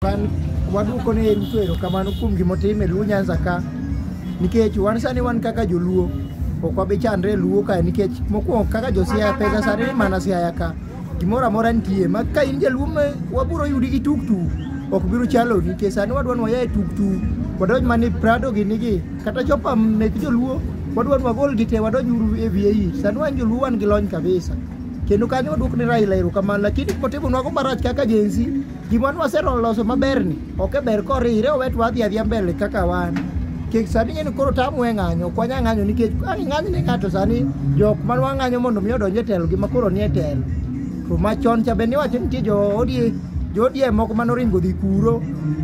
Wan waduoko ne Ruto erokamano kuom gima otimo e Luo Nyanza ka nikech wan sani wan kaka joluo ok wabi chandre e Luo kae nikech mokwongo kaka josiaya pesa sani ni mana siaya ka gimoro amora nitie ma ka in jaluo ma wabiro yudi gi tuktu ok biro chalo nikech sani wadwa ni waya e tuktu wadonj mana e prado gini gi kata chopa mek joluo wadwa ni wagol gi te wadonj uru e VAE sani wan joluo wan gi lony kabisa kendo kanyo waduok ne Raila erokamano lakini kotimonwago marach kaka jensi Gima nwaseromo loso maberni ok e ber korire owet wadhi adhiya mbele kaka wan. Kik sani ng'e ni koro tamu e ng'anyo, ok wanya ng'anyo nikech ka ing'any ne ng'ato sani jok ma wang'anyo mondo mi odonj e telo gi ma koro nie telo. To machon cha be niwacho ni nitie jo odie jo odie moko mane oringo dhi kuro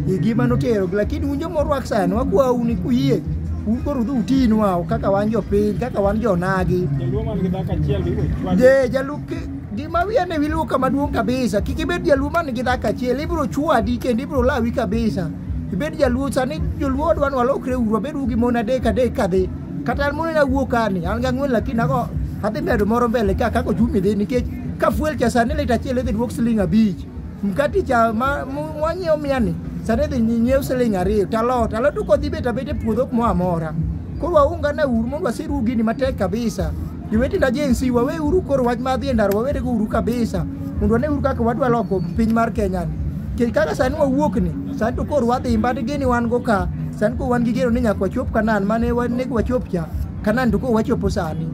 e gima notero lakini un joma orwak sani wakwau ni kuyie un koro udhi utinwa kaka wan jopiny kaka wan jonagi. Jaluo man gi dhako achiel be iwe chwadi. Je, jalup Gima wiya ne wiluwo kama duong' kabisa. Kik ibed jaluo man gi dhako achiel, ibiro chwadi kendo ibiro lawi kabisa. Ibed jaluo sani joluo odwa ni walokre uru, abed gi mon adek adek kadhi. Kata an mon awuo kani, an gi ang'wen lakini ago adhi medo moro mbele ka kako chumi dhi nikech ka fuel cha sani lita achiel idhi duok siling abich. Mkati cha ma mwanyiewo mia ni sani idhi nyiew siling ariyo. Talot, alot ukodhi bet abet e puodho kumoro amora. Koro waungane uru mondo wasiru gini matek kabisa. Jowetena Gen Z, waweuru koro wach mar dhi e ndara, wawerego uru kabisa mondo wane uru kaka wadwa loko piny mar Kenya ni. Nikech kaka sani wawuok ni, sani to koro wadhi mbati gini wan go ka, sani koro wan gi geno ni nyaka wachop Kanan mane wanego wachop cha, Kanan to koro wachopo sani.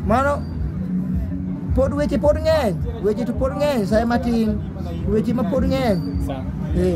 Mano pod weche pod ng'eny, weche to pod ng'eny, sa matin, weche ma pod ng'eny. Sawa. Eh.